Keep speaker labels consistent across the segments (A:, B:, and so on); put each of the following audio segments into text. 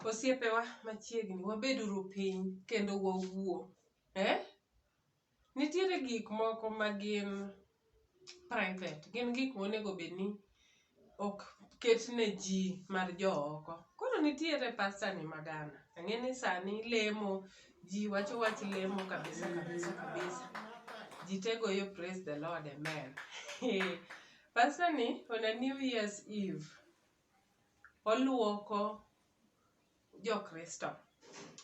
A: Osiepewa machiegni wabeduru piny kendo wawuo. Eh? Nitiere gik moko ma gin private, gin gik monego bed ni ok ket ne ji mar jo oko. Koro nitiere pastor ni ma Ghana, ang'e ni sani lemo, ji wacho wach lemo kabisa kabisa kabisa. Ji te goyo praise the Lord, amen. Pastor ni on a new year's eve, oluoko jo Kristo.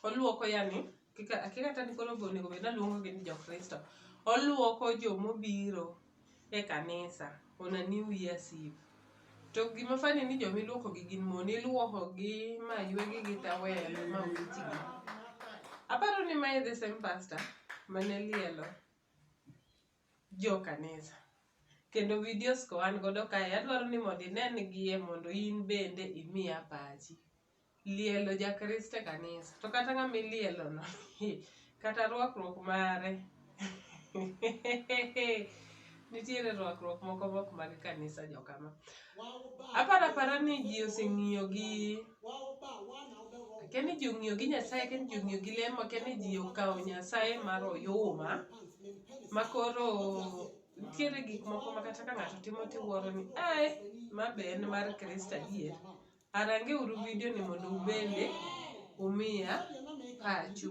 A: Oluoko yani kika akia kata ni koro be onego bed ni aluongo gi ni jo Kristo. Oluoko jomobiro e kanisa on a new year's eve. To gima funny ni jomiluoko gi gin mon. Iluoko gi ma ywegi gi towel ma wichgi. Aparo ni ma e the same pastor mane lielo jo kanisa. Kendo videos go an godo kae adwaro ni mondo inen gie mondo in bende imiya pachi. Lielo ja Kristo e kanisa. To kata ng'ama ilielo no, kata rwakruok mare. Nitiere rwakruok moko mok mag kanisa jokama. Aparo apara ni ji oseng'iyo gi Akia ni ji ong'iyo gi Nyasaye, akia ni ji ong'iyo gi lemo, akia ni ji okawo Nyasaye mar oyuma ma koro nitiere gik moko ma kata ka ng'ato timo tiwuoro ni ae, ma be en mar Kristo adier. Arange uru vidio ni mondo ubende umiya pachu.